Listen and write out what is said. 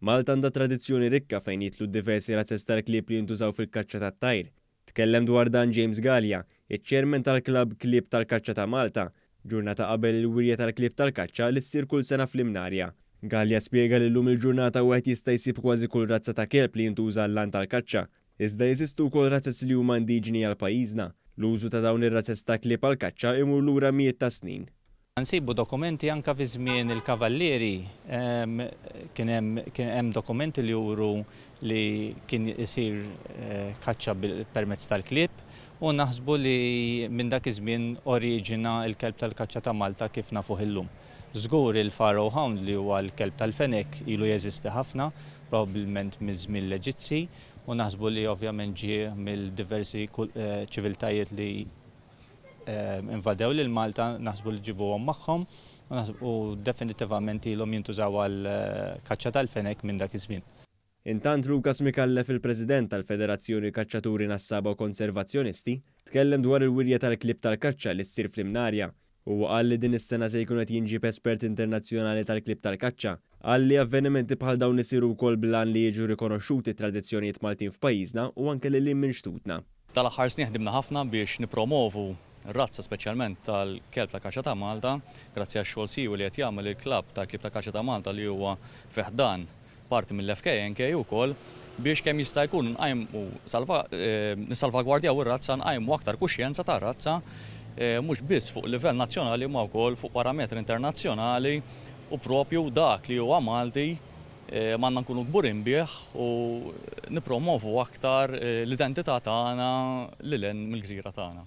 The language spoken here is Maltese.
Malta għandha tradizzjoni rikka fejn jidħlu d-diversi razzez tal-klieb li jintużaw fil-kaċċa tat-tajr. Tkellem dwar dan James Galea, iċ-Chairman tal-Klabb Klieb tal-Kaċċa ta' Malta, ġurnata qabel il-wirja tal-klieb tal-kaċċa li ssir kull sena fl-Imnarja. Galea spjega li llum il-ġurnata wieħed jista' jsib kważi kull razza ta' kelb li jintuża għall-għan tal-kaċċa, Iżda jeżistu wkoll razez li huma indiġeni għal pajjiżna. L-użu ta' dawn ir-razez ta' klieb għall-kaċċa imur lura mijiet ta' snin. Nsibu dokumenti anke fi żmien il-Kavallieri kien hemm kien hemm dokumenti li juru li kien isir kaċċa bil permezz tal-klieb u naħsbu li minn dak iż-żmien oriġina l-kelb tal-kaċċa ta' Malta kif nafuh illum. Żgur il-pharaoh hound li huwa l-kelb tal-fenek ilu jeżisti ħafna, probabbilment miż-żmien l-Eġizzi, u naħsbu li ovvjament ġie mill-diversi ċiviltajiet li invadew lil Malta, naħsbu li ġibuhom magħhom, u definitivament ilhom jintużaw għall-kaċċa tal-fenek minn dak iż-żmien. Intant Lukas Micallef il-President tal-Federazzjoni Kaċċaturi Nassaba u Konservazzjonisti tkellem dwar il-wirja tal-klieb tal-kaċċa li ssir fl-Imnarja. Huwa qal li din is-sena se jkun qed jinġieb espert internazzjonali tal-klieb tal-kaċċa. Qal li avvenimenti bħal dawn isiru wkoll bl-għan li jiġu rikonoxxuti t-tradizzjonijiet Maltin f'pajjiżna u anke lil hinn minn xtutna. Dal-aħħar snin ħdimna ħafna biex nippromovu r-razza speċjalment tal-kelb ta' kaċċa ta' Malta, grazzi għax-xogħol siewi li qed jagħmel il-klabb tal-Klieb ta' Kaċċa ta' Malta li huwa fi ħdan parti mill-FKNK ukoll biex kemm jista' jkun nqajmu nissalvagwardjaw ir-razza, nqajmu aktar kuxjenza tar-razza mhux biss fuq livell nazzjonali imma wkoll fuq parametri internazzjonali u proprju dak li huwa Malti M'għandna nkunu kburin bih u nippromovu aktar l-identità tagħna lil hinn mill-gżira tagħna.